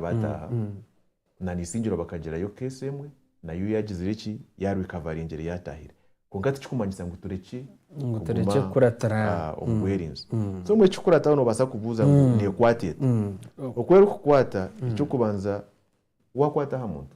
bataaha na Naisingiro bakagirayo keesi emwe nayo yaagizire eki, yaarikavaringire yaataahire. Kwonka tikirikumanyisa ngu turekye Ngu turekye kukuratira aha. ah, omu bwerinzi. So mbwenu ekikukurataho noobaasa kubuuza ngu neekwata eta? Oku erikukwata, eky'okubanza waakwata aha muntu,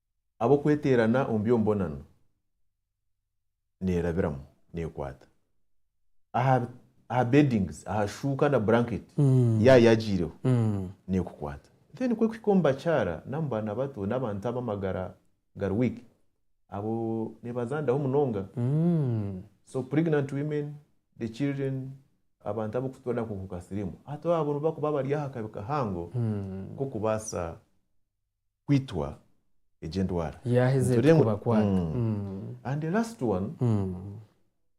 ab'okweteerana omu by'omubonano neerabiramu, neekwata aha aha beddings, aha shuuka na blanket yaayo yaagiireho neekukwata. Then kwe kuhika omu bakyara n'omu baana bato n'abantu ab'amagara gari weak, abo neebazandaho munonga. So pregnant women, the children, abantu abarikufatwa n'akakooko ka siriimu, hati abo nibo barikuba bari aha kabi kahango k'okubaasa kwitwa egi endwara. Yaaheza Nitureba ngu- erikubakwata. Mm. Mm. And the last one, Mm.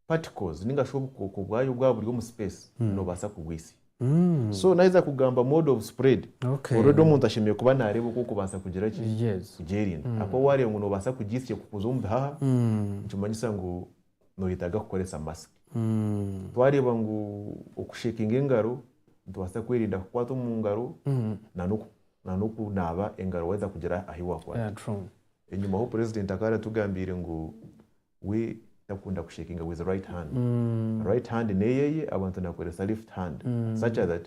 particles ninga shi obukooko bwayo bwaba buri omu space nobaasa kubwitsya. Mm. So naheza kugamba mode of spread, Okay. already omuntu ashemereire kuba nareeba oku okubaasa kugira ki? Yes. Kugyerinda. Ahakuba wareeba ngu nobaasa kugyitsya kukuza omu bihaha, Mm. nikimanyisa ngu noyetaga kukoresa mask. Twareeba ngu okushekinga engaro nitubaasa kwerinda kukwata omu ngaro na n'okunaaba engaro waheza kugira ahu wakwata. Enyima aho president akaba aratugambiire ngu we takunda kushekinga with right hand. Right hand neyeye abantu nakoresa left hand such that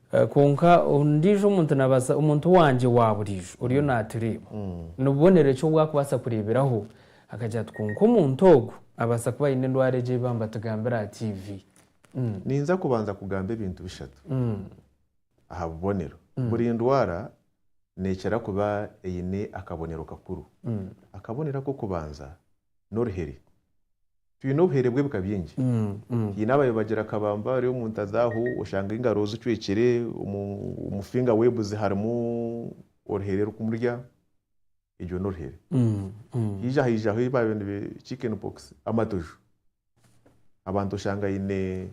Kwonka ondiijo omuntu naabaasa, omuntu wangye wa buriijo oriyo naatureeba, ni bubonero ki obu arikubaasa kureeberaho akagira ati, Kwonka omuntu ogu abaasa kuba aine endwara egi ei bambatugambira aha tiivi? Ninza kubanza kugamba ebintu bishatu aha bubonero. Buri ndwara neekira kuba eine akabonero kakuru. Akabonero ak'okubanza n'oruheri. Twine obuheere bw'ebika bingi. Twine abayobagira akabamba bari omu nta zaaho, oshanga engaro zicwekire, omu finger web ze harimu oruhere rukumurya, egyo n'oruhere. Haija haijaho ei baabaire nibe chicken pox, amatojo. Abantu oshanga aine.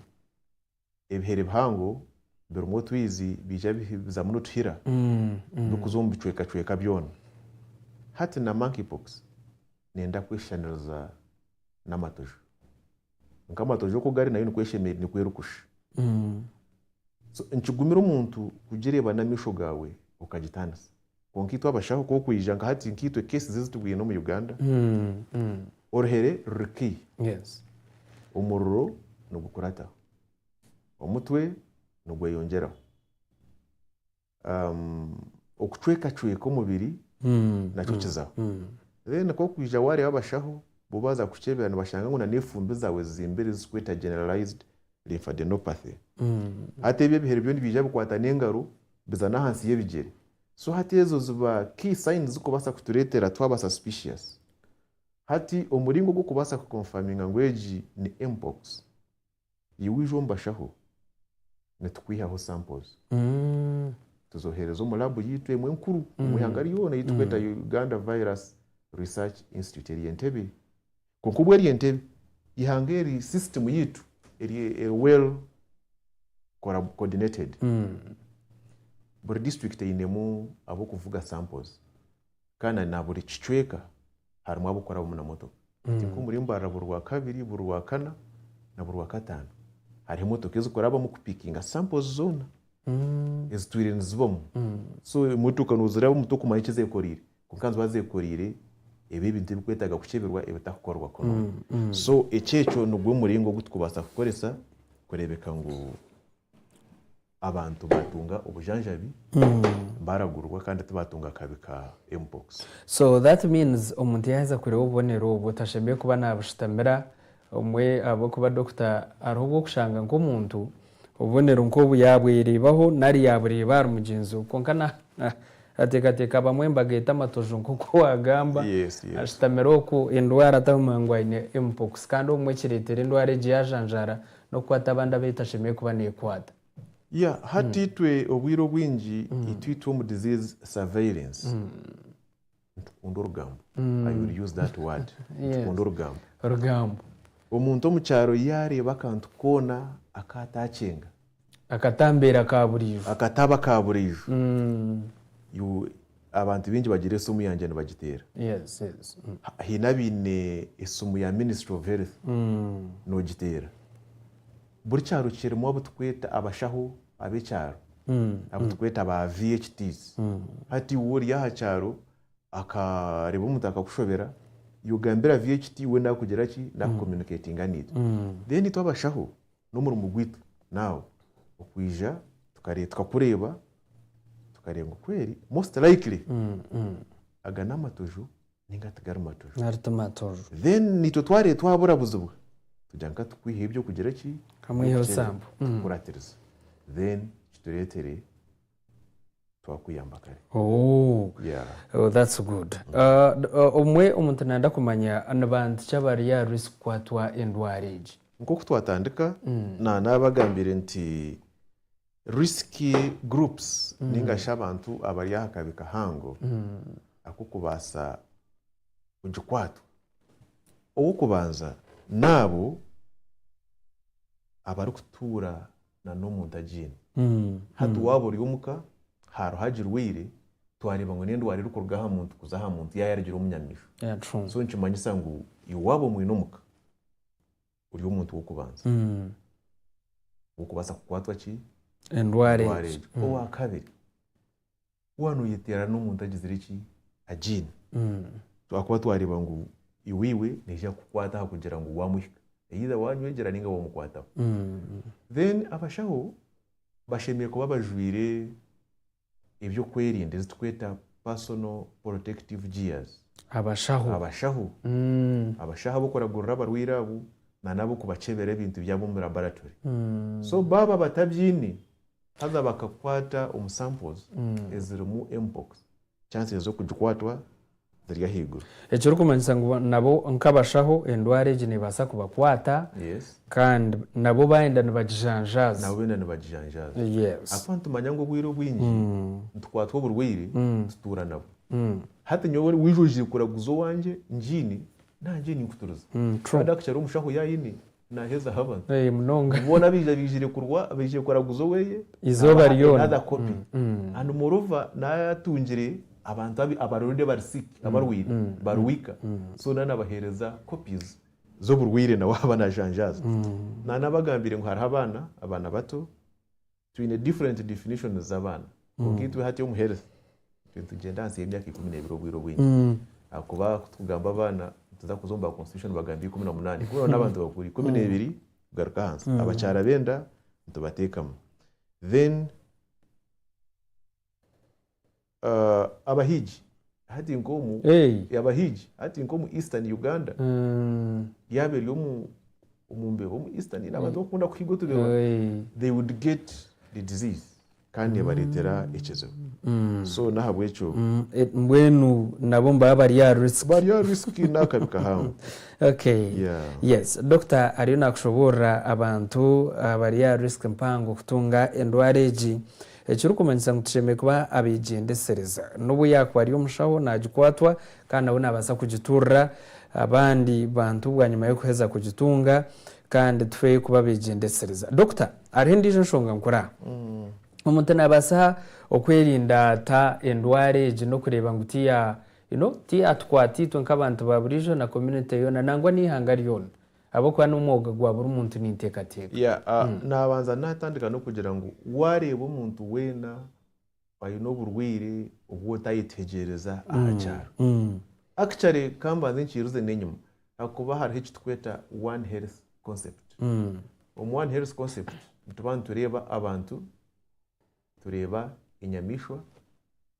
ebihere bihango birimu otwizi biija bizamu nituhira birikuza omu bicwekacweka byona. Hati na monkeypox neenda kweshushaniriza n'amatojo. Kwonka amatojo oku gari nayo nikwo eshemereire, nikwo erikusha. So nikigumira omuntu kugireeba n'amaisho gaawe okagitaanisa. Kwonka itwe abashaho ku okwija nka hati nka itwe cases ezi tubwiine omu Uganda, oruhere ruri key, omuriro nigukurataho, omutwe nigweyongyeraho, okucwekacweka omubiri nakyo kizaho. Then ku okwija waareeba abashaho bo baaza kukukyebera nibashanga ngu n'efumbi zaawe zizimbire zirikweta generalized lymphadenopathy hati ebyo ebihere byo nibyija bikwata n'engaro biza n'ahansi y'ebigyere so hati ezo ziba key signs zikubaasa kutureetera twaba suspicious hati omuringo gw'okubaasa ku confirminga ngu egi ni mpox iwe waija omu bashaho nitukwihaho samples tuzoohereza omu laabu yaitu emwe enkuru omu ihanga ryona ei turikweta Uganda Virus Research Institute eri Entebbe Kwonka obu eri entebe y'eihanga eri sisitimu yaitu eri eri well coordinated, buri district einemu ab'okuvuga samples kandi na buri kicweka harimu ab'okukora abamu na motoka. Hati nk'omuri Mbarara buri Rwakabiri, buri Rwakana na buri Rwakataano hariho emotoka ezikukora abamu kupikinga samples zoona ezitwire nizibamu. So emotoka noziraba omu mutwe kumanya eki ezekoreire. Kwonka niziba zekoreire ebi ebintu ebikwetaaga kukyebirwa ebitakukorwa kurungi. So ekyekyo nigwo muringo ogu turikubaasa kukoresa kureebeka ngu abantu baatunga obujanjabi baragurwa kandi tibaatunga akabi ka mpox. So that means omuntu yaaheza kureeba obubonero obwo tashemereire kuba naabushutamira Obumwe ahabw'okuba dokita ariho obw'okushanga nk'omuntu obubonero nk'obu yaabwereebaho nari yaabureeba ahari mugyenzi we kwonka naateekateeka abamwe embaga eta amatojo nk'oku waagamba ashutamire okwo endwara ataguma ngu aine Mpox kandi obumwe ekireetera endwara egyo yaajanjaara n'okukwata abandi abu etashemereire kuba neekwata. Ya, hati itwe obwire obwingi itwe itwe omu disease surveillance. nitukunda orugambo I will use that word nitukunda orugambo orugambo omuntu omu kyaro yaareeba akantu koona aku ataacenga akatambeera ka buriijo akataba ka buriijo mm. you- abantu baingi bagira esimu yangye nibagiteera yes yes mm. Ha- haine abaine esimu ya ministry of health mm. nogiteera buri kyaro kirimu abu turikweta abashaho ab'ekyaro, abu turikweta ba VHDs. Hati iwe ori aha kyaro akareeba omuntu akakushobera, iwe ogambira VHD we naakugira ki? Naaku communicatinga naitwe. Then itwe abashaho n'omurimo gwaitu now okwija tukare tukakureeba tukareeba ngu kweri most likely aga n'amatojo. ninga tigari maturu. Nari ti maturu. Then naitwe twareeba twabura buzibu tugira nka tukwihayo ebyokugira ki? Kamwiheho sambo. Tukukuratiriza. Then kitureetere twakuyamba kare. Ooh. Yeah. Oh that's good. Omwe omuntu nanda kumanya ni bantu ki abari aha risk kukwatwa endwara egi? Nkoku twatandika, nanabagambiire nti. Risk groups ninga shi abantu abari aha kabi kahango ak'okubaasa kugikwatwa. Ow'okubanza n'abo abarikutuura n'omuntu agiine. Hati waaba ori omuka, haroho agirwaire, twareeba ngu n'endwara erikuruga aha muntu kuza aha muntu yaayaagira omu nyamiishwa. So nikimanyisa ngu iwe waaba omwine omuka, ori omuntu w'okubanza okubaasa kukwatwa ki endwara endwara egyo egyo owakabiri waaba noyeteerana n'omuntu agizire ki agiine ahakuba twareeba ngu iwe neija kukukwata ahakugira ngu wamuhika either wanywegyera ninga wamukwataho then abashaho bashemereire kuba bajwaire eby'okwerinda ezi turikweta personal protective gears. Abashaho. Abashaho. Abashaho ab'okuragurira abarwaire abo nana ab'okubakyebera ebintu byabo omu laboratory. So baaba batabyiine, haza bakakwata omu samples ezirimu Mpox, chances z'okugikwatwa ziri ahaiguru. Ekirikumanyisa ngu nabo nk'abashaho endwara egi neebaasa kubakwata kandi nabo baayenda nibagijanjaaza. Ahakuba nitumanya ngu obwire obwingi nitukwatwa oburwaire tutuura nabwo. Hati nyowe waija ogiire kuraguza owangye ngyine, nangye ninkuturiza. Kandi hakukira omushaho yaayine Naaheza haba. Ee, munonga. Boona abaija baizire kurwa, baizire kuraguza oweye, Eizooba naabaha ryona. another copy. Mm, mm. And moreover, naatungire abantu abi- abari already abari sick, abarwaire, mm, bari mm, weaker. mm. So naaba nabaheereza copies z'oburwaire nawe ahaba naajanjaaza. Mm. Naaba nabagambire ngu hariho abaana, abaana bato, Twine different definitions z'abaana kwonka itwe hati omu health nitugyenda ahansi y'emyaka ikumi n'ebiri obwire obwingi ahakuba kutugamba abaana nituza kuza omu ba constitution nibagamba ikumi na munaana ikumi na munaana abantu bakuru ikumi n'ebiri kugaruka ahansi abakyara b'enda nitubateekamu then Abahigi hati nk'omu abahigi hati nk'omu Eastern Uganda yaaba eri omu omu mbeho omu Eastern ni abantu bakunda kuhiga otubeho they would get the disease kandi nebareetera ekizibu mm. so n'ahabw'ekyo mm, e, mbwenu nabo nibaba bari aha risk bari aha risk n'akabi kahangu okay yeah. yes dokita ariyo nakushoboorora abantu abari ah, aha risk mpango kutunga endwara egi Ekirikumanyisa ngu tushemereire kuba abeegyendesereza. N'obu yaakuba ari omushaho, naagikwatwa kandi nawe naabaasa kugiturira abandi bantu bwanyima y'okuheza kugitunga. Kandi tufe kuba abeegyendesereza. Dokita, hariho endiijo nshonga nkuru aha. Omuntu naabaasa okwerinda ata endwara egi n'okureeba ngu tiyatukwata itwe nk'abantu baaburiijo na community yoona nangwa n'eihanga ryona? Ahabw'okuba n'omwoga gwa buri muntu ninteekateeka. Yeah, ah, naabanza naatandika n'okugira ngu waareeba omuntu weena oine oburwaire obu otaayetegyereza aha kyaro, actually ka mbanze nkiiruze n'enyima ahakuba hariho eki turikweta One Health Concept. Omu One Health Concept nituba nitureeba abantu tureeba enyamaishwa,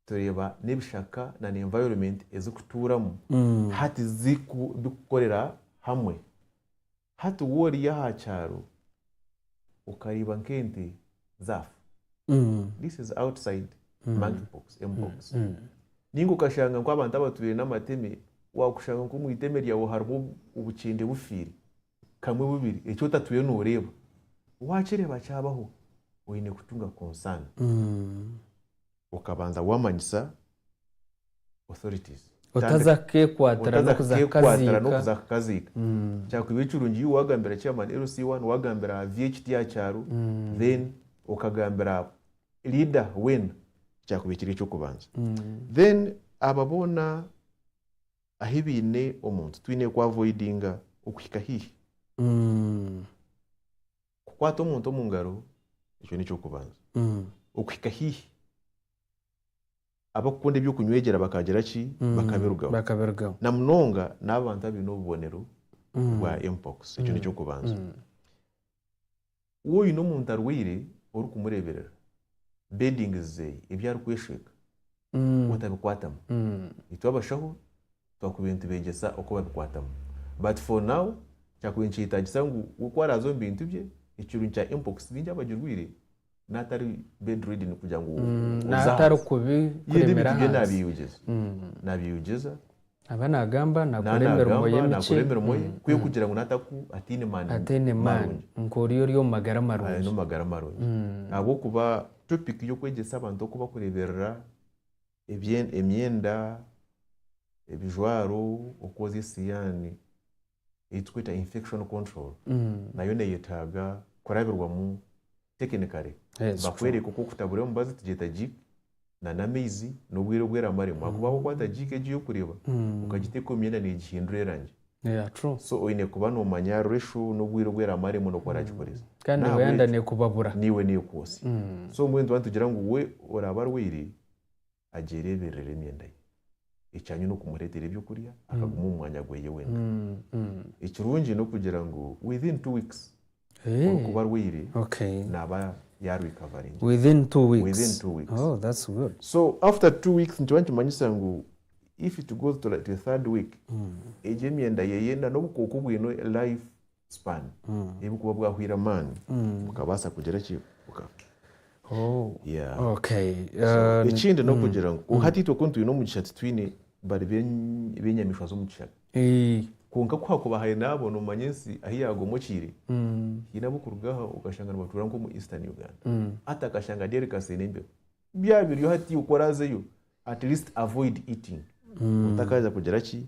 tureeba n'ebishaka na environment ezikutuuramu hati zirikukorera hamwe. Hati waaba ori aha kyaro okareeba nk'ente zaafa, this is outside monkey pox, mpox. Nainga okashanga nk'abantu abatwire n'amateme, waakushanga nk'omu iteme ryaawe harimu obukyende bufiire. kamwe bubiri eki otatwire noreeba wakireeba kyabaho oyine kutunga concern okabanza wamanyisa authorities otaza kukekwatira nokuza kukaziika kyakubiire kirungi you wagambira chairman LC I wagambira aha VHT aha kyaro then okagambira aha leader weena kyakubiire kiri ekyokubanza then aba boona ahi baine omuntu twine ku avoidinga okuhika haihi. Kukwata omuntu omu ngaro ekyo n'eky'okubanza. Okuhika haihi abakukunda eby'okunywegyera bakagira ki? Bakabirugaho. Bakabirugaho. Na munonga n'abantu abaine obubonero bwa mpox ekyo n'eky'okubanza. Waaba oine omuntu arwaire orikumureeberera, beddings ze ebi arikweshweeka otabikwatamu. Itwe abashaho twakubaire nitubeegyesa oku babikwatamu but for now kyakubaire nikyetaagisa ngu we ku araaze omu bintu bye, ekirungi kya Mpox baingi abagirwaire n'atari bed ridden kugira ngu oze ahansi. Ye n'ebintu bye naabyeyegyeza. Naba nagamba nakora emirimo ye mikye kugira ngu ataine maani nk'ori ori omu magara marungi. Ahabw'okuba topiki y'okwegyesa abantu oku barikureeberera emyenda, ebijwaro, okwozya esihaani ei turikweta infection control nayo neyetaaga kurabirwamu. technically bakworeka oku okutabura omubazi tugyeta jik na namaizi nobwire obu eramaremu ahakuba waaba okwata jik egyo yokureba okagiteka omu myenda negihindura erangi so oyine kuba nomanya ratio nobwire obu eramaremu noku oragikoresa naiwe nekwotsya so mbwenu tuba nitugira ngu we oraba arwaire agyereebererera emyenda ye. Ekyanyima n'okumureetera eby'okurya, akaguma omu mwanya gwe wenka. Ekirungi n'okugira ngu within two weeks orikuba arwaire naaba yaarikavaringa. Within two weeks? Within two weeks. Oh, that's good. So after two weeks nikiba nikimanyisa ngu if it goes to the third week, egyo emyenda ye n'obukooko obwine life. Sipani. Ei bukuba bwahwaire amaani, bukabaasa kugira ki? Bukafa. Ekindi n'okugira ngu kwonka hati itwe ku nitwine omugisha titwine bari b'enyamaishwa z'omu kishaka. Kwonka ku hakuba haine abo noomanya ensi ahu yaagomokiire, haine ab'okuruga aho okashanga nibatuura nk'omu Eastern Uganda. Hati akashanga Derry kaseine embeho. byaba biriyo hati oku orazeyo at least avoid eating otakaza kugira ki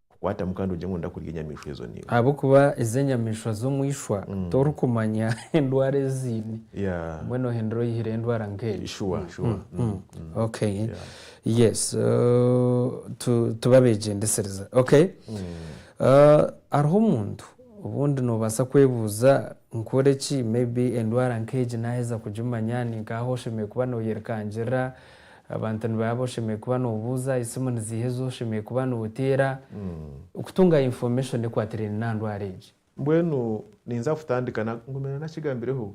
kukwatamu kandi ogire ngu noyenda kurya enyamaishwa ezo niwe. Ahabw'okuba ezo enyamaishwa z'omu ishwa torikumanya endwara ezi ziine. Yeah. Obumwe nohindura oyihireyo endwara nk'egyo. Sure, sure. Mm. Okay. Yes. Uh, tu, tuba abegyendesereza. Okay. Uh, hariho omuntu obundi nobaasa kwebuuza Nkore ki? Maybe endwara nk'egi naaheza kugimanya, ni nk'aha oshemereire kuba nooyerikangirira. Abantu nibaba oshemereire kuba noobuuza, esimu niziiha ezi oshemereire kuba nooteera. Okutunga information ekwatiraine n'aha ndwara egi. Mbwenu ninza kutandika na, ngumire nakigambireho,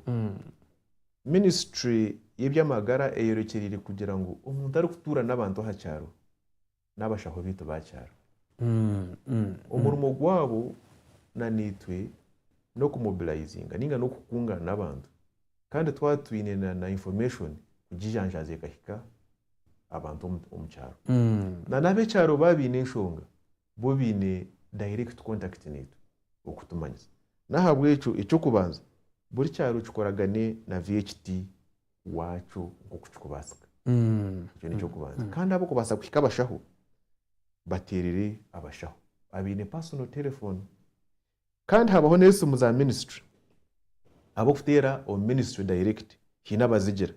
ministry y'eby'amagara eyorekyereire kugira ngu omuntu arikutuura n'abantu aha kyaro, n'abashaho baitu ba kyaro. Omurimo gwabo na naitwe n'okumobilayizinga ninga n'okukungaana abantu kandi twaba twine na na information kugijanjaaza ekahika abantu omu omu kyaro. Na n'ab'ekyaro baaba baine enshonga bo baine direct contact naitwe okutumanyisa. N'ahabw'ekyo eky'okubanza buri kyaro kikoragane na VHT waakyo nk'oku kirikubaasika. Ekyo nikyo kubanza. Kandi ahabw'okubaasa kuhika abashaho, bateerere abashaho abaine personal telephone. Kandi haabaho n'esimu za ministry, ahabw'okuteera omu ministry direct haine abazigira.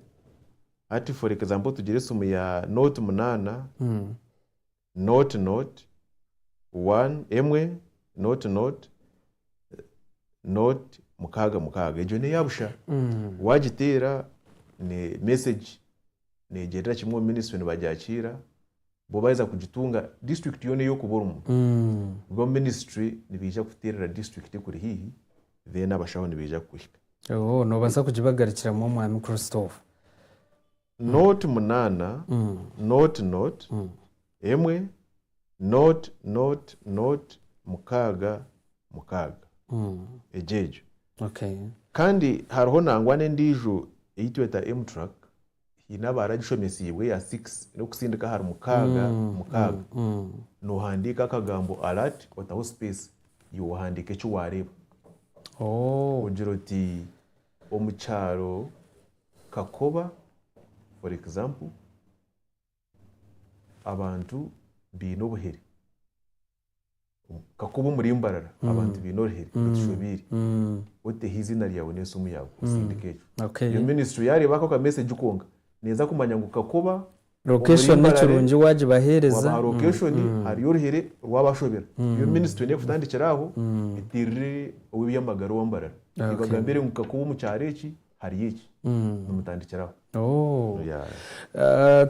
Hati for example tugire esimu ya note munaana, Note Note one emwe Note Note Note mukaaga mukaaga egyo neya busha wagiteera ne message negyendera kimwe omu ministry nibagyakiira bo baheza kugitunga district yoona eyokuba orimu bo omu ministry nibeija kuteerera district ekuri haihi then abashaho nibeija kukuhika. Ooh, nobaasa kugibagarikiramu Omwaami Christopher. Nooti munaana, nooti nooti, emwe, nooti nooti nooti, mukaaga mukaaga. Egyo egyo. Okay. Kandi hariho nangwa n'endiijo ei tweta M-Track, haine abaaragishomesiibwe eya six, n'okutsindika ahari mukaaga mukaaga, noohandiika akagambo alert otaho space, iwe ohandiika eki waareeba. Ooh. Ogira oti. Omu kyaro Kakoba for example abantu baine obuhere. Kakoba omuri Mbarara abantu baine oruhere batushobeire. Oteho eizina ryawe n'esimu yaawe osindike ekyo. Reero ministry yaareeba ako ka message konka neeza kumanya ngu Kakoba Location kirungi wagibahereza. Wabaha location hariyo oruhere rwabashobera. Yo ministry neye kutandikira aho eterire owebyamagara owa Mbarara ebagambire ngu kakuba omu kyaro eki hariyo eki nimutandikira aho.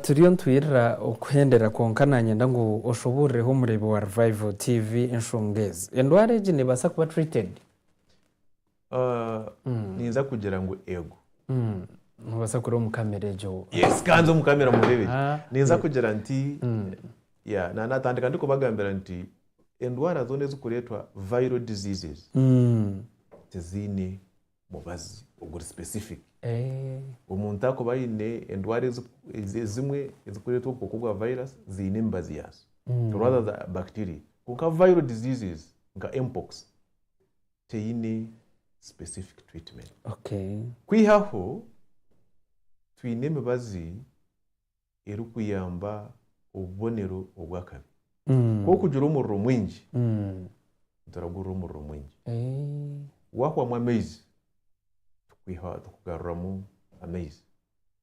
Turiyo nitwirira okuhendera kwonka nanyenda ngu oshuburire ho omurebi wa Revival TV enshonga ezi. Endwara egi nebasa kuba treated? Ninza kugira ngu eego. Noobaasa kureeba omu kamera egyo. Yes, kanze omu kamera mureebe gye. Ninza kugira nti, yeah, na naatandika ndikubagambira nti endwara zoona ezikureetwa viral diseases tiziine mubazi oguri specific. Omuntu akuba aine endwara ezimwe ezikureetwa obukooko bwa virus ziine emibazi yaazo rather than bacteria. Kwonka viral diseases nka mpox, teine specific treatment. Okay. Kwihaho, twine emibazi erikuyamba obubonero obw'akabi. Mm. Ku orikugira omuriro mwingi, Mm. nituragurira omuriro mwingi. Eh. Waahwamu amaizi, tukwiha, tukugaruramu amaizi.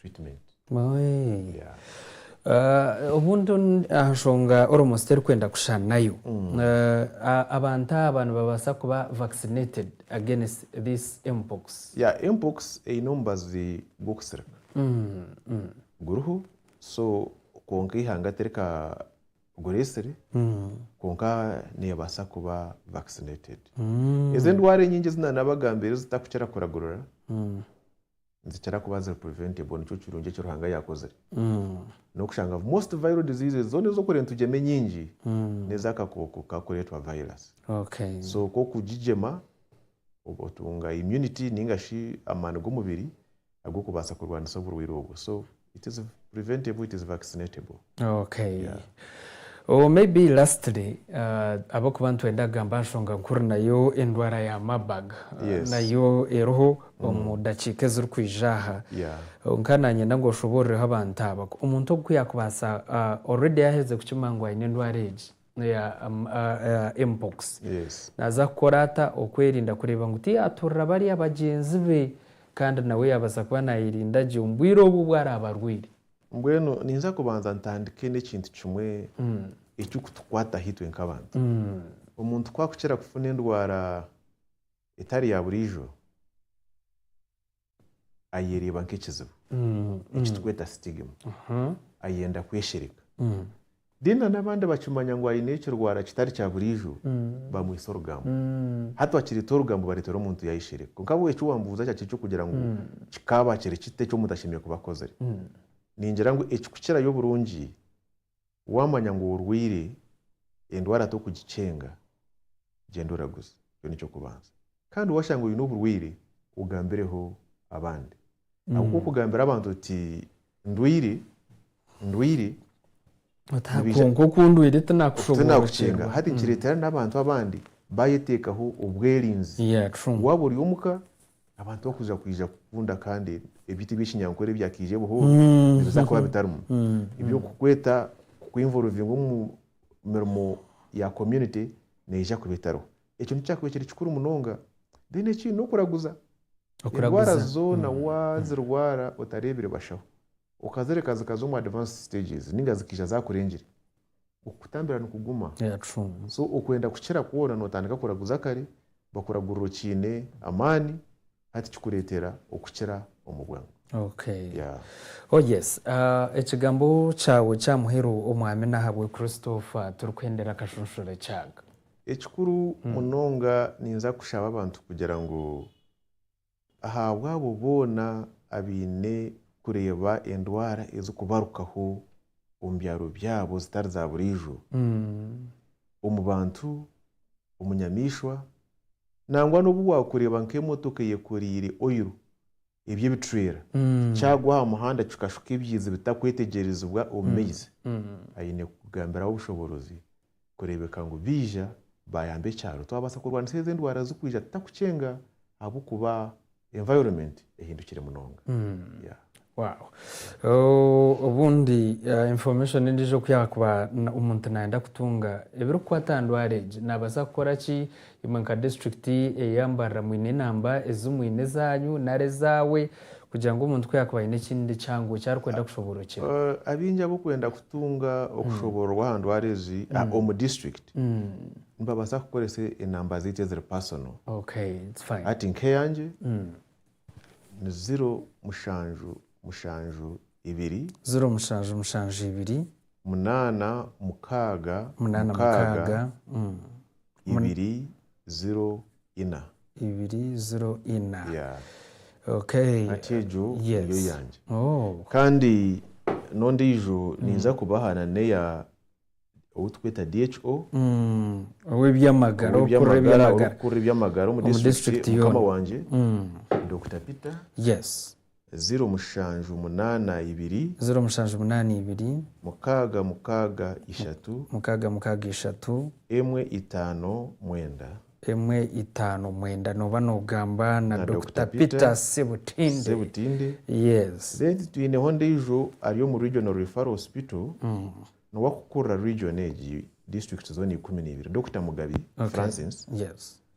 treatment Oe. yeah. Ah, obundi on- aha nshonga almost terikwenda kushushanayo Eh, a- abantu aba nibabaasa kuba vaccinated against this mpox yeah mpox eine omubazi gw'okusirika guriho so kwonka eihanga tirikagureesire kwonka neebaasa kuba vaccinated ezi endwara enyingi ezi naabagambira ezitakukira kuragurira nizikira kuba ziri preventable nikyo kirungi eki Ruhanga yaakozire n'okushanga ngu most viral diseases zoona ez'okureeba nitugyema enyingi n'ez'akakooko kakureetwa virus Okay. so ku okugigyema ob- otunga immunity ninga shi amaani g'omubiri ag'okubaasa kurwanisa oburwaire obwo so it is preventable it is vaccinatable okay yeah. Oh, maybe lastly uh, abakuba nitwenda kugamba nshonga nkuru nayo endwara ya mabag uh, yes. nayo eriho mm. omu dakiika ezirikwija aha yeah. Oh, nka nanyenda ngu oshoborereho abantu aba omuntu ogu kuyakubaasa uh, already yaheze kukima ngu aine endwara egi Mpox naaza kukora ata okwerinda kureeba ngu tiyaaturira bariya bagyenzi be kandi nawe yaabaasa kuba naayerinda gye omu bwire obu obu araabe arwaire? Mbwenu ninza kubanza ntandike n'ekintu kimwe ekirikutukwataho itwe nk'abantu. Omuntu ku arikukira kufuna endwara etari ya buriijo, ayereeba nk'ekizibu eki tukweta sitigima ayenda kweshereka then na n'abandi bakimanya ngu aine ekirwara kitari kya buriijo bamwitsa orugambo hati wakireta orugambo baretera omuntu yayeshereka kwonka ahabw'obu eki wambuuza kyakira eky'okugira ngu kikaaba kiri kita eki omuntu ashemereire kuba akozire ningira ngu ekikukirayo oburungi Waamanya ngu orwaire endwara tokugikyenga, gyenda oraguze. Ekyo nikyo kubanza. Kandi waashanga oine oburwaire, ogambireho abandi. Ahabw'okuba okugambira abantu oti, Ndwaire, ndwaire, Otaha kwonka oku ndwaire tinaakushoboorokyerwa. Hati nikireetera n'abantu abandi baayeteekaho obwerinzi. Waaba ori omuka, Abantu bakuza kwija kukunda kandi ebyita ebyekinyankore ebyakiija ebuhoro nibiza kuba bitarimu. Ebyokukweta kukwiinvorovinga omu mirimo ya community neija kuba etariho. Ekyo nikikyakuba ekiri kikuru munonga. Then ekindi nokuraguza. Endwara zoona wazirwara otareebire bashaho, okazireka zikaza omu advanced stages ninga zikiija zakurengire, Okutambira nikuguma. So okwenda kukira kwona notandika kuraguza kare, bakuragurira okiine amaani hati kikuretera okukira omu bwangu. Okay. Yeah. Oh yes. Ekigambo kyawe kya muheru Omwami nahabwe Christopher turikuhendera akashushure kyag. Ekikuru munonga ninza kushaba abantu kugira ngu. ahabw'abo boona abaine kureeba endwara ezirikubarukaho omu byaro byabo zitari za buriijo, omu bantu, omu nyamaishwa, nangwa n'obu waakureeba nk'emotoka eyekoreire oil eby'ebicwera kyagwa aha muhanda kikashuka ebiizi bitakwetegyerezibwa omu maizi, aine kukugambiraho obushoborozi kureebeka ngu baija baayamba ekyaro. Twabaasa kurwanisa ezo endwara zirikwija tutarikukyenga ahabw'okuba environment ehindukire munonga. Wow. Obundi information endiijo ku yaakuba omuntu naayenda kutunga ebirikukwata aha ndwara egi, naabaasa kukora ki? Imwe nka disiturikiti eya Mbarara mwine namba ezimwine ezaanyu nari ezaawe kugira ngu omuntu ku yaakuba aine ekindi kihango eki arikwenda kushoboorokyera? Abaingi abarikwenda kutunga okushoboororwa aha ndwara ezi omu disiturikiti nibabaasa kukoresa enamba zaitu eziri pasono. Hati nk'eyangye ni ziro mushanju mushanju ibiri. Ziro mushanju mushanju ibiri. Munaana mukaaga mukaaga. ibiri ziro ina. Ibiri ziro ina. Yeah. Okay. Hati egyo yes. niyo yangye. Oh. Kandi n'ondiijo mm. ninza kubaha na neya outweta DHO mm. owebyamagara okurra ebyamagara omu district mukama wangye mm. Dr Peter yes Ziro mushanju munaana ibiri. Ziro mushanju munaana ibiri. Mukaaga mukaaga ishatu. Mukaaga mukaaga ishatu. Emwe itaano mwenda. Emwe itaano mwenda nooba noogamba na Dokita Peter Sebutinde. Yes. Then twineho ondeijo ari omu Regional Referral Hospital n'owakukurira region egi, district zoona ikumi na ibiri, Dokita Mugabi Francis. Yes.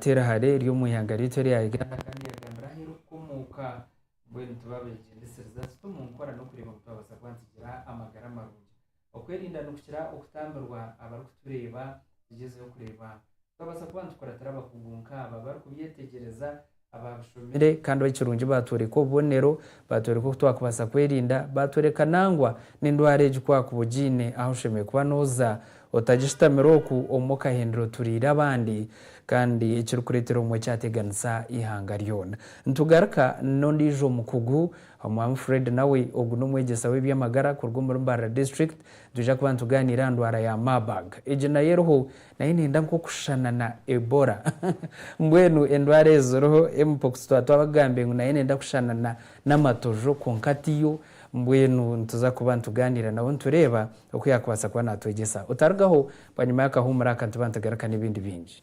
Teera hare eri omu ihanga ryaitu erya Uganda kandi yagambira aheeru okukomoka. Mbwenu tubabegyendesiriza tuta omu nkora n'okureeba ngu twabaasa kuba nitugira amagara marungi. Okwerinda nikukira okutambirwa abarikutureeba. Tugyezeho kureeba ku twabaasa kuba nitukuratira abakugu nk'aba abarikubyetegyereza. abaabishomire kandi ekirungi baatworeka obubonero, baatworeka oku twakubaasa kwerinda, baatworeka nangwa n'endwara egi ku waakuba ogiine ahu oshemereire kuba nooza otagishutamire oku omwe okahindura oturiire abandi kandi ekirikureetera obumwe kyateganisa eihanga ryona. Nitugaruka n'ondiijo mukugu, Omwaami Fred nawe ogu n'omwegyesa w'eby'amagara kuruga omuri Mbarara District, nitwija kuba nitugaaniira aha ndwara ya Marburg. Egi nayo eriho Nayo nenda nk'okushushana na Ebola. Mbwenu endwara ezi ziriho, Mpox twaba twabagambire ngu nayo nenda kushushana na n'amatojo kwonka tiyo. Mbwenu nituza kuba nitugaaniira nabo nitureeba oku yaakubaasa kuba naatwegyesa. Otarugaho, bwanyima y'akahuumuro aka nituba nitugaruka n'ebindi bingi.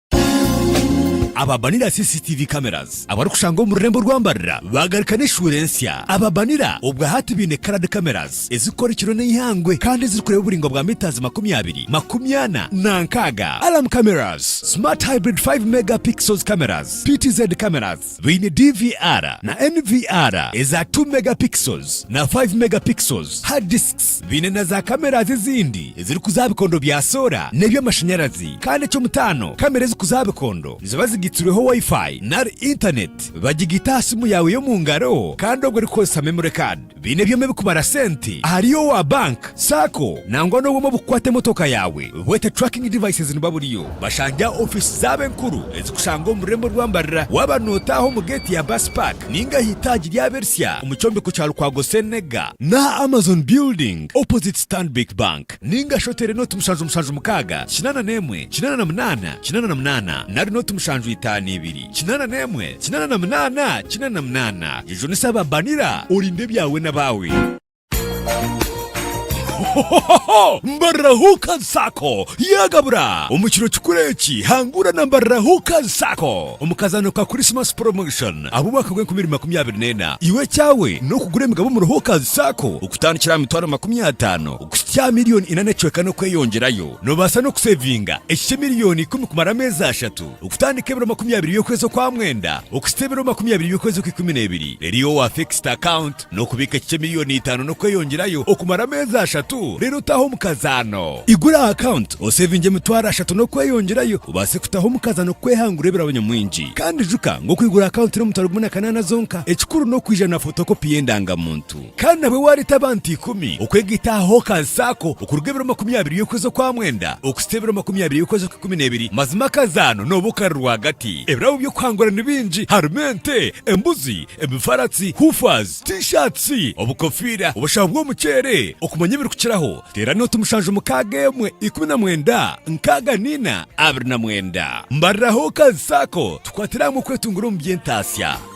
Aba Banira CCTV Cameras abarikushangwa omu rurembo rwa Mbarira baagaruka n'eshuura ensya. Aba Banira obwahati baine Coloured Cameras ezirikukora ekiro n'eihangwe kandi ezirikureeba oburaingwa bwa mitaazi makumi abiri, makumi ana na nkaaga. Alarm Cameras, Smart Hybrid 5 Mega Pixels Cameras, PTZ Cameras, Baine DVR na NVR eza two megapixels na five megapixels, hard disks. Baine na za cameras ezindi ezirikuza aha bikondo bya soora n'eby'amashanyarazi kandi eky'omutaano kamera ezikuza aha bikondo niziba zigaitsirweho Wi-Fi nari Internet. Bagigaita aha simu yaawe y'omu ngaro kandi obwo orikukozesa memory card. Baine ebyoma ebikubara sente ahari owa bank, sacco nangwa n'obwoma obukukwata emotoka yaawe bwete tracking devices niba buriyo. Bashange aha ofiisi zaabo enkuru ezikushangwa omu rurembo rwa Mbarara waaba nootaaha omu geeti ya bus park ninga aha itaagi ry'abersya omu kyombeko kya Lukwago Ssenega, n'aha Amazon building opposite Stanbic Bank ninga shi oteere nooti mushanju mushanju mukaaga kinaana n'emwe kinaana na munaana kinaana na munaana nari nooti mushanju itaano ibiri. Kinaana n'emwe, kinaana na munaana, kinaana na munaana. Jujunisa aba Banira, orinde ebyawe n'abaawe. Hohohoho! Mbarira Hookers Sacco yaagabura! Omu kiro kikuru eki, hangura na Mbarira Hookers Sacco omu kazaano ka Christmas Promotion ah'omwaka gw'enkumi ibiri makumi abiri n'ena. Iwe ekyawe n'okugura emigabo omuri Hookers Sacco okutandikira aha mitwaro makumi ataano okuhitsya aha milioni ina n'ekicweka n'okweyongyerayo. Noobaasa n'okuseevinga ekikye milioni ikumi kumara ameezi ashatu. Okutandika ebiro makumi abiri by'okwezi okwa mwenda okuhitsya ebiro makumi abiri by'okwezi okw'ikumi n'ebiri reero owa fixed account n'okubiika kikye milioni itaano n'okweyongyerayo okumara ameezi ashatu reero otahe omukazaano. Igura aha account osevinge emitwaro ashatu n'okweyongyerayo obaase kutaha omukazaano kukwehangura ebirabo nyamwingi kandi ijuka ngu okwigura account n'omutwaro gumwe na kanaana zonka ekikuru n'okwiija na photocopy y'endangamuntu. Kandi nabwe waareeta abantu ikumi okwega itaaha aha okansi ako okuruga ebiro makumi abiri y'okwezi okwa mwenda okuhitsya ebiro makumi abiri y'okwezi okw'ikumi n'ebiri, mazima akazaano nooba okari rwagati. Ebirabo by'okuhangura ni bingi, harimu ente, embuzi, emifaratsi, hoofahs, T-shirts, obukofiira, obushaho bw'omuceere, okumanya ebirikukiraho. Teerana oti mushanju mukaaga emwe ikumi na mwenda nkaaga na ina abiri na mwenda. Mbarira aha okansi ako tukwatire hamwe okwetunguura omu by'entaatsya.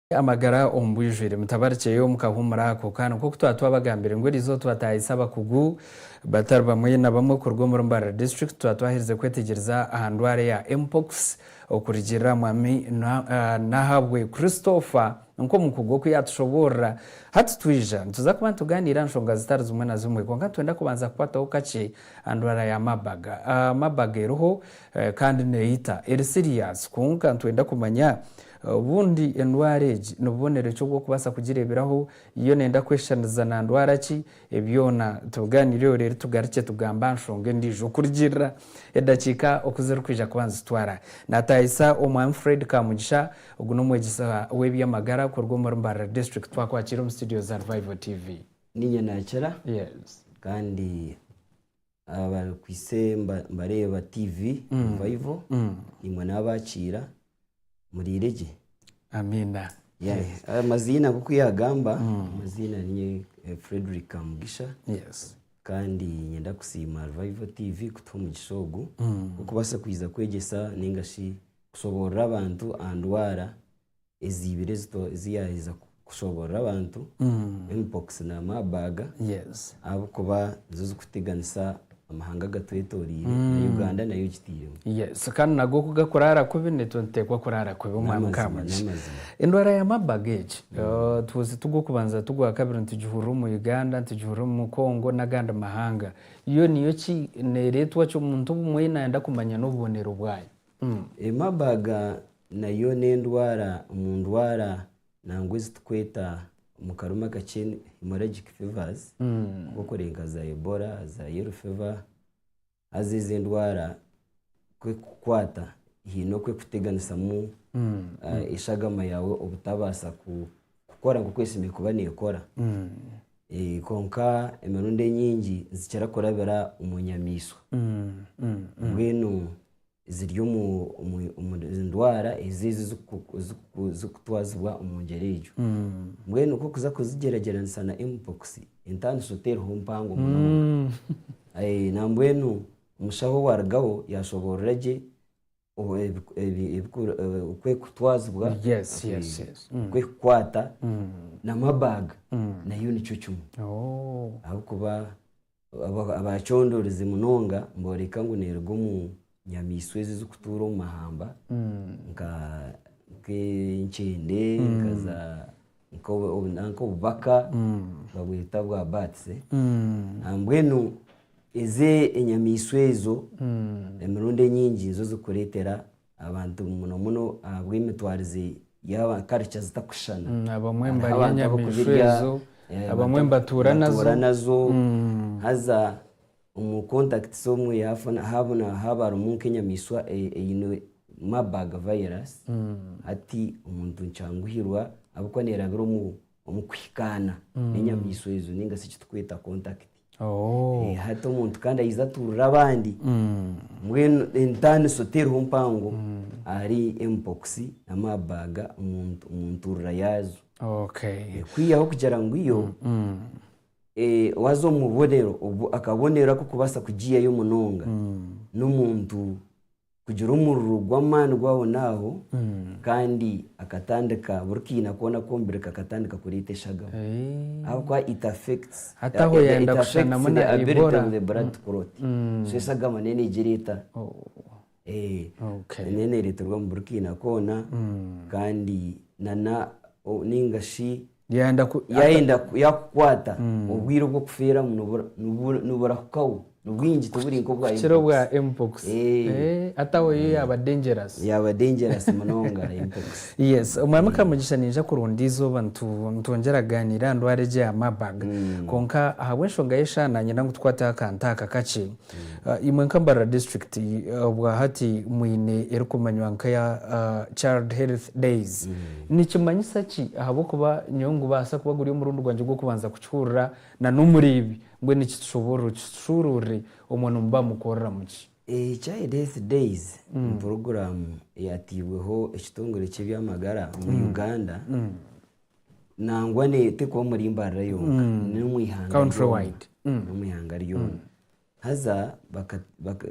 Amagara omu bwijwire. Mutabarikyeyo mukahuumura ako kaana nk'oku twaba twabagambire ngu erizooba twataahise abakugu batari bamwe na bamwe kuruga omuri Mbarara District twaba twaherize kwetegyereza aha ndwara eya Mpox okurugiirira aha Mwami Nahabwe Christopher nk'omukugu oku yaatushoboorora. Hati twija nituza kuba nitugaaniira aha nshonga zitari zimwe na zimwe kwonka nitwenda kubanza kukwataho kakye aha ndwara ya Marburg. Marburg eriho kandi neeyita. Eri siriyaasi kwonka nitwenda kumanya Obundi endwara egi ni bubonero ki obw'okubaasa kugireeberaho? Yo neenda kweshushaniriza na ndwara ki? Ebi byona tubigaaniireho reero tugarukye tugambe aha nshonga endiijo kurugiirira edakiika oku zirikwija kuba nizitwara. Naataayisa Omwami Fred Kamugisha. Ogu n'omwegyesa w'eby'amagara kuruga omuri Mbarara District. Twakwakiire omu situdiyo za Revival TV. Niinye naakira kandi abarikwaitse nibareeba tiivi rivayiro, imwe n'abaakiira muriire gye. Amaziina nk'oku yaagamba, amaziina ni Fredrick Kamugisha kandi niinyenda kusiima ruvayiro tiivi kutuha omugisha ogu gw'okubaasa kwegyesa nainga shi kushoboorora abantu aha ndwara eziibire ezi yaaheza kushoboorora abantu, mpox na Marburg, ahabw'okuba nizo zirikuteganisa amahanga agatwetoreire, na Uganda nayo ogitairemu. Kandi nago ku garikuraara kubi naitwe nituteekwa kuraara kubi. Omwami Kamugisha, endwara ya Marburg egi tuzi ti gw'okubanza ti gwakabiri, nitugihurira omu Uganda, nitugihurira omu Congo n'agandi mahanga. Yo niyo ki? Neereetwa ki? Omuntu obumwe naayenda kumanya n'obubonero bwayo. Ii Marburg nayo n'endwara omu ndwara nangwa ezi turikweta omu karimi akakye hemorrhagic fevers nk'okuri nka za Ebola, za yellow fever, haza ezo endwara ku ekukukwata haine oku ekuteganisamu eshagama yaawe obutabaasa ku kukora nk'oku esemeriire kuba nekora. Kwonka emirundi enyingi nizikira kurabira omu nyamaishwa. Mbwenu ziri omuri ndwara ezo ezi zirikutwazibwa omu ngyera egyo. Mbwenu ku orikuza kuzigyeragyeranisa na mpox, entaaniso teriho mpango munonga. Nambwenu omushaho owarugaho yashoboorora gye o- ebi- ebi- ebiku- eh, okwekutwazibwa Yes, eh, yes, yes. Mm. okwekukwata n'amabaaga nayo nikyo kimwe Oh. ahabw'okuba aba- abaacondorezi munonga nibooreka ngu neeruga omu nyamaishwa ezi zirikutuura omu mahamba nka nk'enkyende nka za nanka obubaka babweta bwa bats mbwenu ezi enyamaishwa ezo emirundi enyingi nizo zirikureetera abantu muno muno ahabw'emitwaarize yaaba culture zitakushushana hariho abantu abarikuzirya abandi nibatuura nazo haza Omu contact z'omwe yaafuna haabu na haabu harimu nk'enyamaiswa e- eine Marburg virus, hati omuntu nikyanguhirwa ahabw'okuba neerabira omu omu kuhikaana n'enyamaiswa ezo nainga shi eki turikweta contact. Oh. Eh, hati omuntu kandi aija atuurira abandi mbwenu entaaniso teriho mpango ahari Mpox na Marburg omu ntu- omu ntuurira yaazo. Okay. Kwihaho kugira ngu yo Waaza omu bubonero obu, akabonero ak'okubaasa kugiiyayo munonga n'omuntu kugira omuriro gw'amaani gw'ahonaaho kandi akatandika buri kaina koona ak'omubiri kakatandika kureeta eshagama ahabw'okuba it affects the ability of the blood to clot so eshagama nayo neija ereeta Eh, Okay. niyo neereterwa omu buri kaina koona kandi nana o- ningashi Yayenda ku- yayenda ku- yakukwata obwire obw'okufiiramu nibura- nibura- niburahukaho nibwingi tiburi nk'obwa kukira obwa mpox. mpox Eh. Eh, ati aho yo yaaba dangerous yaaba dangerous munonga mpox yes omwami kamugisha ninja kurunda eizooba nitu- nitwongyera kugaaniira aha ndwara egi eya marburg kwonka ahabw'enshonga y'eshaha naanyenda ngu tukwateho akantu aka kakye Imwe nka Mbarara District obwa hati mwine erikumanywa nka eya Child Health Days. Nikimanyisa ki ahabw'okuba nyowe ngubaasa kuba guri omurundi gwangye gw'okubanza kukihurira na n'omuri ibi? Mbwenu kitushoboorore okitushuuruurire omwe nimuba mukoreramu ki? Child Health Days ni puroguraamu eyateibweho ekitongore ky'eby'amagara omu Uganda. nangwa neeyotekwa omuri Mbarara yonka n'omu ihanga ryona. Countrywide. Mm. n'omu ihanga ryona haza baka- baka-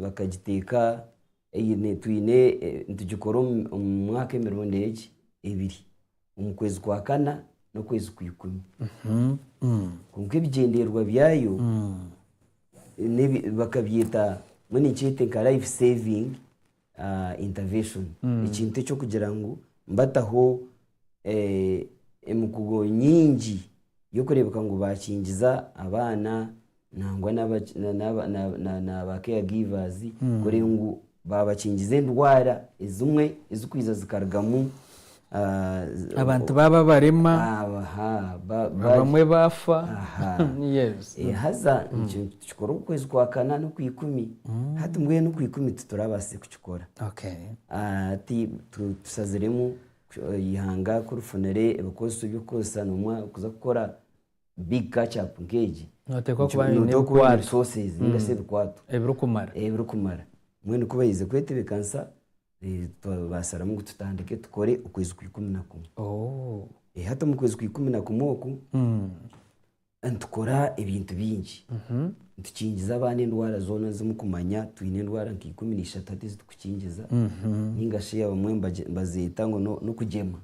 bakagiteeka eine- twine eh, nitugikora omu- omu mwaka emirundi egi ebiri omu kwezi kwa kana n'okwezi kwa ikumi kwonka ebigyendererwa byayo nebi- bakabyeta mbwenu nikyeete nka life saving intervention, ekintu eky'okugira ngu bataho emikugo nyingi y'okureebeka ngu baakingiza abaana nangwa na ba care givers kureba ngu baabakingiza endwara ezimwe ezikwiija zikarugamu Abantu baaba barema, abamwe baafa. Haza nikyo tukikora omu kwezi kwa kana n'okwa ikumi. Hati mbwenu okwa ikumi titurabaasa kukikora. Hati tushaziremu eihanga ku rifunire ebikozeso by'okukoresa noomwe kuza kukora big catch up nk'egi, noteekwa kuba oine ebikwato ebirikumara. Mbwenu ku baize kwetebeekanisa. Eh, twabaasira ngu tutandike tukore okwezi kwa ikumi na kumwe Oh. Eh, hati omu kwezi kwa ikumi na kumwe oku Mm. nitukora ebintu bingi Mhm. nitukingiza abaana endwara zoona zimu kumanya twine endwara nka ikumi na ishatu hati ezi turikukingiza Mhm. ninga shi abamwe mbagye- mbazeeta ngu no- n'okugyema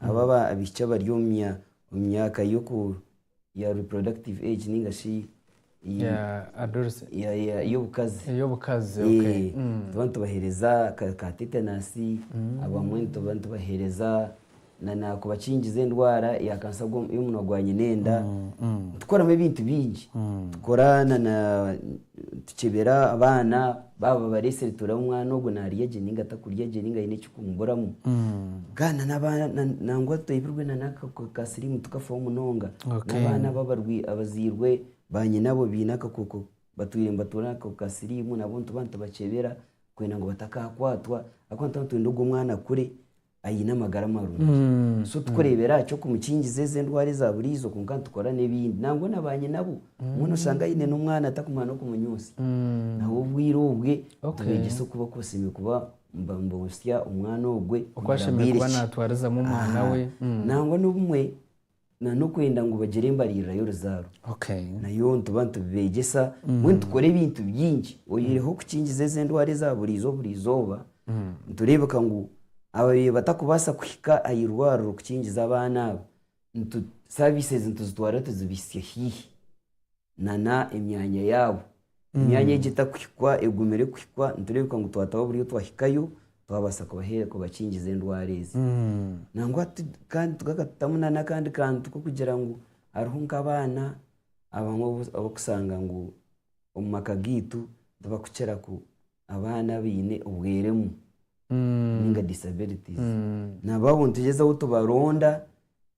Abo abaishiki abari omu myaka ya reproductive age ninga shi ey'obukazi, nituba nitubaheereza ka tetanus, abamwe nituba nitubaheereza kubakingiza endwara ya kansa y'omunwa gwa nyina enda, nitukoramu ebintu bingi. Tukyebera abaana baaba bareetsire turabe omwana ogwo naarya gye ninga takurya gye ninga haine ekirikumubuuramu. Mbwenu nangwa twebirwe n'aka ka siriimu tukafaho munonga. N'abaana abazairwe baanyina abo baine akakooko batwire nibatuura n'akakooko ka siriimu nabo nituba nitubakyebera kwenda ngu batakaakwatwa ahabw'okuba nituba nitwenda ogwo mwana akure. aine amagara marungi. So tikureebera aha ky'okumukingiza ezi endwara eza buriijo kwonka nitukora n'ebindi. Nangwa na baanyinabo, obumwe nooshanga aine n'omwana atarikumanya n'okumunyoonsa. Nabo obwire obwe nitubeegyesa oku barikubaasa kuba nibanyoonsya omwana ogwe. Oku ashemereire kuba naatwarizamu omwana we. Nangwa n'obumwe na n'okwenda ngu bagire embaririra y'oruzaaro. Okay. Nayo nituba nitubibeegyesa mbwenu nitukora ebintu bingi oyihireho kukingiza ezi endwara eza buriizo buri izooba nitureebeka ngu ababyeyi batakubaasa kuhika aha irwariro kukingiza abaana abo nitu services nituzitwara tuzibitsye haihi. nana emyanya yaabo emyanya egi etakuhikwa egumire kuhikwa nitureebeka ngu twataho buri ou twahikayo twabaasa kubahe- kubakingiza endwara ezi nangwa tu- kandi tukakatutamu nana akandi kantu k'okugira ngu hariho nk'abaana abamwe obu- obu okusanga ngu omu maka gaitu tibakukira ku abaana abaine obweremu ninga disabilities nabo abo nitugyezaho tubaronda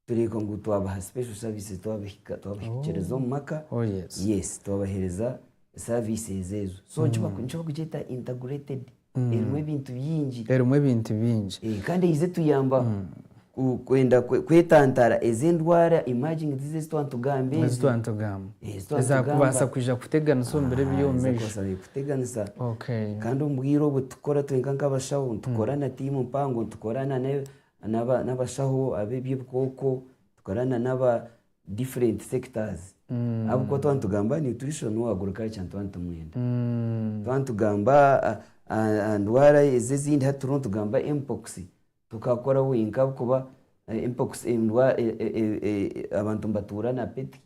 tureeka ngu twabaha special services twabahika twabahikiriza omu maka Oh, yes. yes twabahereza services ezo so nikibaku- nikibakugyeta integrated erimu ebintu bingi erimu ebintu bingi Eh, kandi eize tuyamba Kwenda kwetantara ezo endwara, emerging diseases, ezi twaba nitugamba ezi. Ezi twaba nitugamba. Ezi twaba nitugamba. Ezakubaasa kwija kuteganisa omu biro eby'omu maisho. Aha, ezakubaasa kuteganisa. Okay. Kandi omu bwire obu tukora twenka nk'abashaho, nitukora na tiimu mpango, nitukora na n'abashaho ab'eby'ebikooko, nitukora na n'aba different sectors. Ahabw'okuba twaba nitugamba nutrition or agriculture nituba nitumwenda. Twaba nitugamba aha ndwara ezi ezindi, hati turiho nitugamba mpox, Tukakora wenka ahakuba mpox embwa abantu nibatuura na peti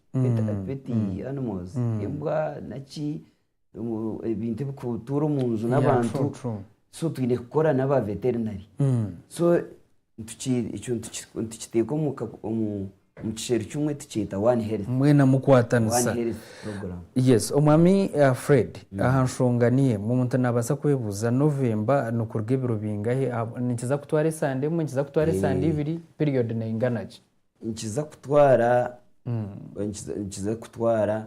animals embwa naki ebintu ebikutuura omu nju n'abantu so twine kukora naba veterinary so ekyo nitukiteeka omu Mukisheeri kimwe tukyeta one health. Mwena mukwatanisa. One health program. Yes omwami Fred aha nshonga niyo emwe omuntu nabasa kwebuza November nikuruga ebiro bingahe nikiza kutwara esande emwe nikiza kutwara esande ibiri period neyinganagye. Nikiza kutwara nikiza kutwara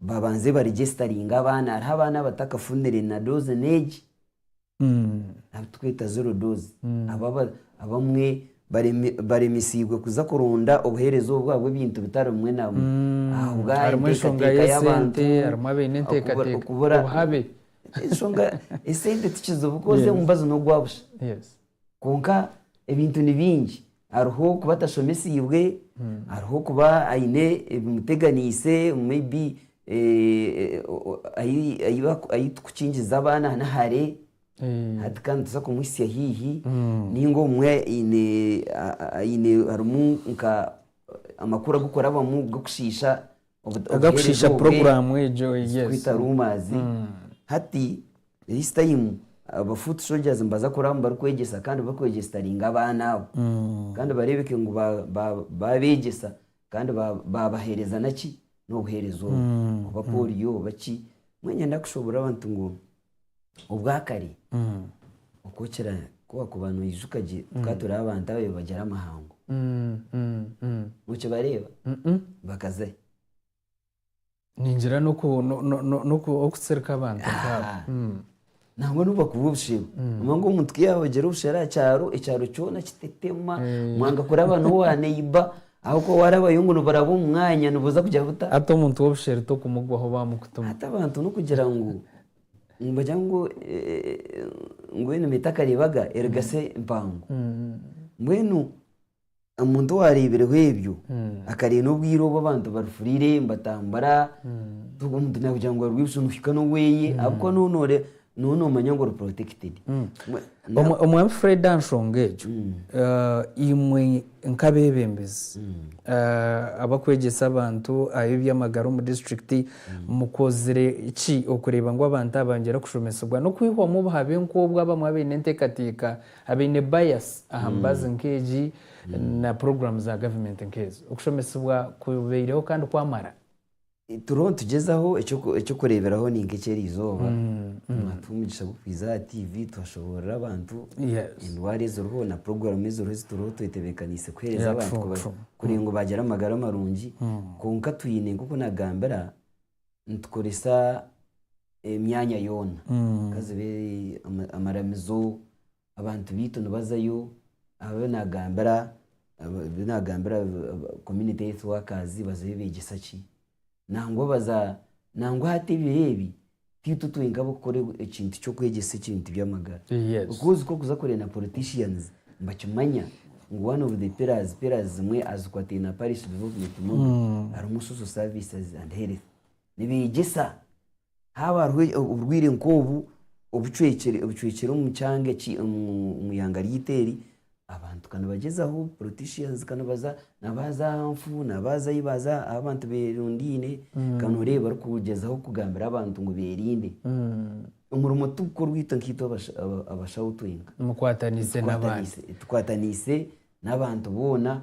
babanze baregestaringe abaana hariho abaana abatakafunire na doze negi abitweta zero doze abamwe baremesiibwe kuza kuronda obuhereza obu ahabwebintu bitari bimwe na bimwe harimu enshonga yesente harimu abaine entekateka obuhabe ensonga esente tikizibu coz omubazi nogwabusha Kwonka ebintu ni bingi, hariho kuba atashomesiibwe, hariho kuba aine ebimuteganiise may be ahu turikukingiza abaana ni hare, hati ka nituza kumuhitsya haihi, nainga obumwe harimu amakuru agu orikurabamu g'okushiisha Agakushiisha puroguraamu egyo. Zikwita ruumaazi. Hati this time aba foot soldiers nibaza kuraamu barikwegyesa kandi barikwegyesitaringa abaana abo. Kandi bareebeke ngu baabeegyesa kandi baabaheereza naki? N'obuheereza obwo. Oba pooriyo oba ki. Mbwenu nyenda kushoboorora abantu ngu. obwakare oku okira kubakuba noijuka gye tukaba turi abantu ababaire nibagira amahango nokibareeba bakazayo ningira n'oku- no- no- no- n'oku- okutsirika abantu nk'abo. Ah. Mm. nangwa nobakuba obushero nangwa ngu omuntu ku yaabagira obushero aha kyaro ekyaro kyona kitetema Eh. mwanga kuraba n'owa neiba Ahakuba waarabayo ngu niburaba omu mwanya, nibuza kugira buta? Hati omuntu w'obusheri tokumugwaho baamukutuma. Hati abantu n'okugira ngu nibagira ngu mbwenu nibaita akariibaga erigase empango. Mbwenu omuntu owaareebireho ebyo, akareeba n'obwire obu abantu barifuriire nibatambura, omuntu naagira ngu arwibutswa nihika n'oweye ahakuba nooba nooreeba Nooba noomanya ngu ori protected. Mwe- na- Omwa- omwami fred aha nshonga egyo eh, imwe nk'abeebembezi eh, abakwegyesa abantu aha eby'amagara omu disiturikiti mukozire ki okureeba ngu abantu aba bangira kushomesibwa n'okwihwamu obuhabe nk'obwo abamwe abaine enteekateeka abaine bias aha mibazi nk'egi na puroguraamu za gavumenti nk'ezo okushomesibwa kubaireho kandi kwamara Turiho nitugyezaho eky'okureeberaho ni nk'eki eri izooba nituha omugisha gw'okuhweza aha TV twashoboorora abantu endwara eziriho na puroguramu eziriho ezi turiho twetebeekaniise kuheereza abantu kugira ngu baagira amagara marungi kwonka twine nk'oku naagambira nitukoresa emyanya yoona ka zibe amaramizo abantu baitu nibazayo abu nagambira abu nagambira community health workers bazayo begyesa ki? Nangwa baza nangwa hati ebiro ebi tiitwe twenka ab'okukora ekintu ky'okwegyesa ekintu by'amagara Yes. because ku orikuza kureeba na politicians nibakimanya ngu one of the pillars pillars zimwe azikwataine na parish development model harimu social services and health. nibeegyesa haaba hariho oburwaire nk'obu obucwekire obucwekire omu kyanga eki omu omu ihanga ryaitu eri, abantu ka nibagyezaho politicians ka nibaza nabaaza Anfu nabaaza ahi baaza ahu abantu beerundaine ka nooreeba barikugyezaho kugambira abantu ngu beerinde. Omurimo tigukorwa itwe nkaitwe abasha aba- abashaho twenka. Mukwataniise n'abandi. Tukwataniise, tukwataniise n'abantu boona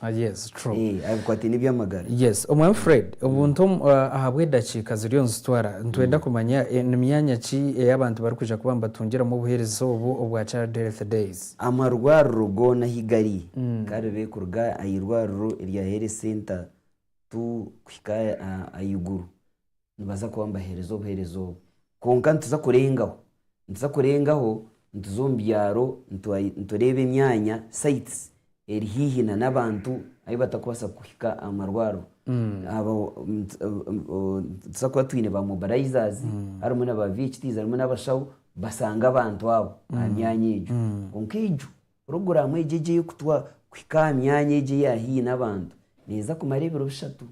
Ah, yes, true. Eh, abikwataine eby'amagara. Yes, Omwami Fred, obuntu omu- ah, ahabw'edakiika ziriyo nizitwara, nitwenda kumanya eh, ni myanya ki ei abantu barikwija kuba nibatungiramu obuheereza obu obwa Child Health Days? Amarwariro goona ahi gari, karibe kuruga aha irwariro erya Health Centre tu kuhika ah, ahaiguru. nibaza kuba nibaheereza obuheereza obu. Kwonka nituza kurengaho, nituza kurengaho nituza omu byaro nitureeba emyanya, sites, eri haihi n'abantu ahu batakubaasa kuhika aha marwariro. Nituza kuba twine ba mobilizers, harimu na ba VHTs harimu n'abashaho bashange abantu abo aha myanya egyo. Kwonka egyo Puroguraamu egi egi ey'okutwa kuhika aha myanya egi eya haihi n'abantu neeza kumara ebiro bishatu.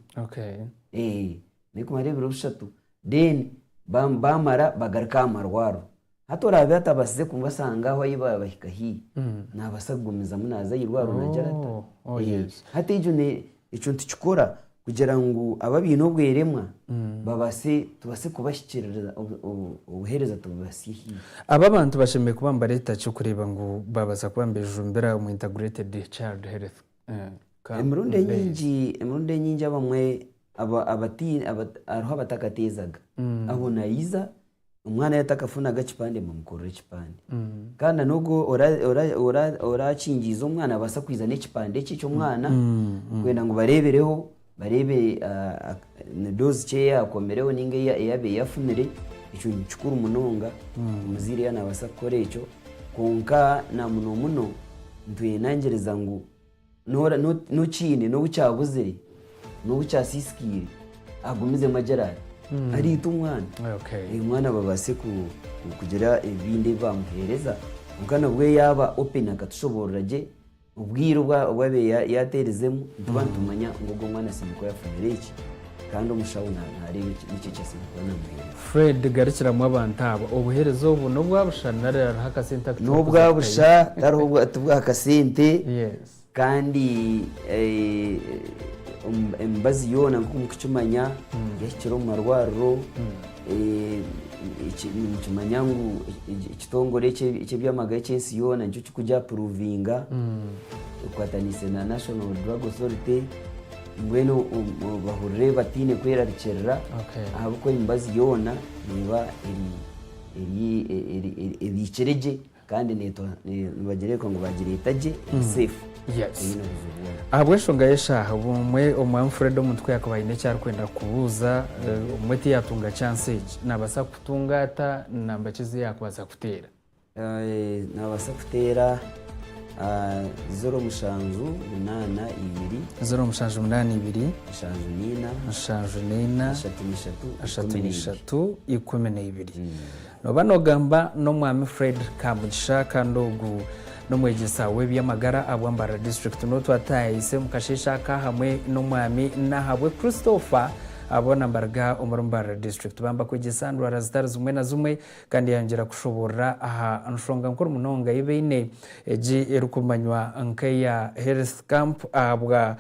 Neekumara ebiro bishatu then baamara bagaruke aha marwariro. Hati oraabe atabaasize kubasanga aho ahi baahika haihi, naabaasa kugumizamu naaza aha irwariro naagira ata? Hati egyo Ekyo nitukikora kugira ngu abo abaine obweremwa babaase tubaase kubahikiririza, obu- obu- obuheereza tububatsye haihi. Abo abantu bashemereire kuba nibareeta ki okureeba ngu baabaasa kuba nibeejumbira omu Integrated Child Health eh, Camp Emirundi Mbale? enyingi emirundi enyingi abamwe aba- abati- abata- hariho abatakateezaga, abo naija omwana yaaba atakafunaga kipande mumukorere ekipande kandi na n'ogu ora- ora- ora- orakingiize omwana abaasa kwija n'ekipande ekye ky'omwana kwenda ngu bareebereho bareebe ah, ah, ni doozi ki ei akomireho nainga ei- ei abaire afunire ekyo ni kikuru munonga omuzaire yaaba naabaasa kukora ekyo kwonka na muno muno nitweyengyereeza ngu N'okiine, n'obu kyabuzire, n'obu kyasiisikaire, agumizemu agira ati, Ariita omwana. Omwana babaase kugira ebindi ebi baamuheereza. Kwonka nabwo yaaba openi akatushoboorora gye obwire obu abaire yaateerizemu nituba nitumanya ngu ogwo mwana asiemukwe yafunire eki Kandi omushaho naareeba eki nikyo eki asemeriire kuba naamuheereza. Fred, Garukiramu abantu abo. Obuheereza obu n'obwa busha nari hariho akasente aku turi kuza kutayo? N'obwa busha, tariho ti bwa kasente. Yes. Kandi emibazi yoona nk'oku mukukimanya yahikire omu marwariro, nikimanya ngu ekitongore eky'eby'amagara eky'ensi yoona nikyo kiri kugyapuruvinga ekwataniise na National Drug Authority. Mbwenu bahurire bataine kwerarikirira, ahabw'okuba emibazi yoona neeba ebiikire gye, kandi nibagireebeka ngu baagireeta gye eri saifu, teine buzibu bwona. Ahabw'enshonga y'eshaaha, obumwe Omwaami Fred omuntu ku yaakuba aine eki arikwenda kubuuza, obumwe tiyaatunga chansi egi, naabaasa kutunga ata namba ki ezi yaakubaasa kuteera? Naabaasa kuteera zeero mushanju munaana ibiri. Zeero mushanju munaana ibiri. Nshanju naina. Nshanju naina. Ashatu naishatu. Ashatu naishatu ikumi naibiri. Nooba noogamba n'omwami Fred Kamugisha kandi ogu n'omwegyesa w'eby'amagara aha Bwambara District North ataayahaise omu kasheeshe aka hamwe n'omwami Nahabwe Christopher boona nibaruga omuri Mbarara District. Baamba kwegyesa ndwara zitari zimwe na zimwe. Kandi yayongyera kushoboorora aha nshonga nkuru munonga ei baine, egi erikumanywa nk'eya Health Camp ahabwa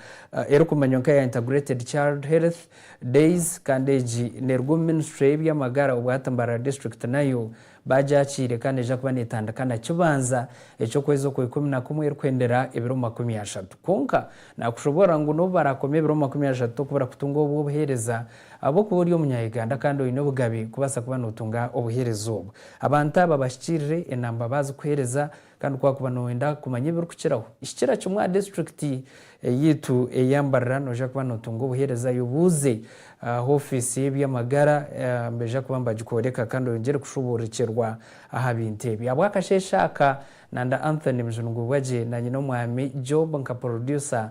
erikumanywa nk'eya Integrated Child Health, Days, kandi egi neeruga omu minisitule y'eby'amagara obwo hati Mbarara District nayo baagyakiire kandi neija kuba neetandika na kibanza eky'okwezi okwa ikumi na kumwe erikuhendera ebiro makumi ashatu. Kwonka naakushoboorora ngu n'obu baraakoma ebiro makumi ashatu tokubura kutunga obw'obuheereza Ahabw'okuba ori Omunya-Uganda kandi oine obugabe kubaasa kuba nootunga obuheereza obwo. Abantu aba bahikirire enamba baazikuheereza kandi ku waakuba nooyenda kumanya ebirikukiraho, hikira kimwe aha disiturikiti yaitu eya Mbarara noija kuba nootunga obuheereza. Yobuuze aha ofiisi y'eby'amagara nibaija kuba nibagikworeka kandi oyongyere kushuburikirwa aha bintu ebi. Ahabw'akasheeshe aka, Nanda Anthony Mujunugubwagye na Nyin'omwami Job nka Porodusa,